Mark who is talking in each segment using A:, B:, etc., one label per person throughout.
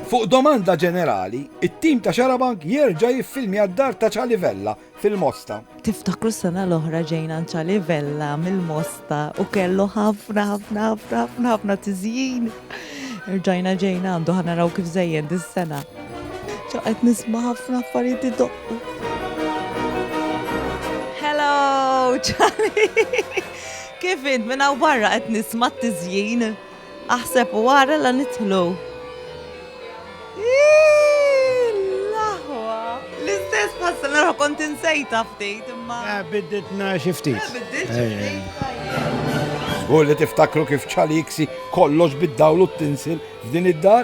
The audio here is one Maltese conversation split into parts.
A: Fuq domanda ġenerali, it-tim ta' Xarabank jerġa' jiffilmja d-dar ta' Ċali Vella fil-Mosta. Tiftakru s-sena
B: l-oħra ġejna għand Ċali Vella mill-Mosta u kellu ħafna ħafna ħafna ħafna ħafna tiżjin. Irġajna ġejna għandu ħana raw kif zejjen dis-sena. Ċaqet nisma ħafna affarijiet idoqqu. Hello, Charlie! Kif int minna barra qed nisma t-tizjien? Aħseb u ara la nidħlu. L-aħwa. L-istess bħassa nara kont insejta ftit imma. Eh, bidditna xi ftit. Eh, biddit xi
C: ftit.
A: Żgur li tiftakru kif ċaliksi kollox bid-dawl u t-tinsil f'din id-dar?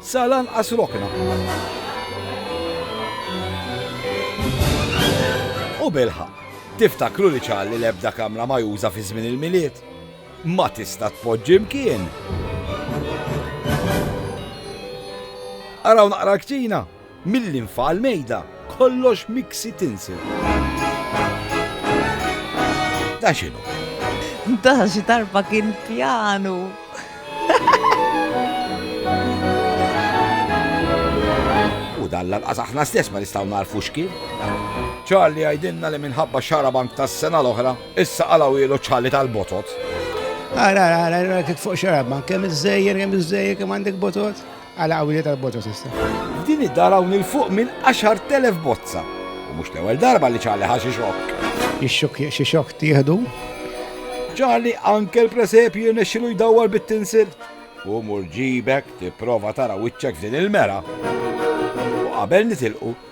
A: Sa lanqas rokna. U bilħaqq, tiftakru li qal li l-ebda kamra majuża fi żmien il-Milied ma tista' tpoġġi mkien! Araw naqra l-kċina. Mill-linfa għall-mejda, kollox miksi tinsel. Dan x'inhu? Dan
B: xi darba kien pjanu.
A: U dan lanqas aħna stess ma nistgħu narfu x'kien. Charlie għajdinna li minħabba xarabank tas-sena l-oħra, issa qalaw ilu ċalli tal-botot. Ara,
C: ara, ara, titfuq xarabank, kemm iż-żejjer, kemm iż-żejjer, kemm għandek botot? Għala qawwili tal-bozza s'issa. F'din id-dar hawn
A: 'il fuq minn għaxart elef bozza u mhux l-ewwel darba li Charlie ħa xi xokk. Ix-xokk jekk xi
C: xokk tieħdu.
A: Charlie anke l-presepju jirnexxilu jdawwar bit-tinsil. U mur ġibek tipprova tara wiċċek f'din il-mera. U qabel nitilqu,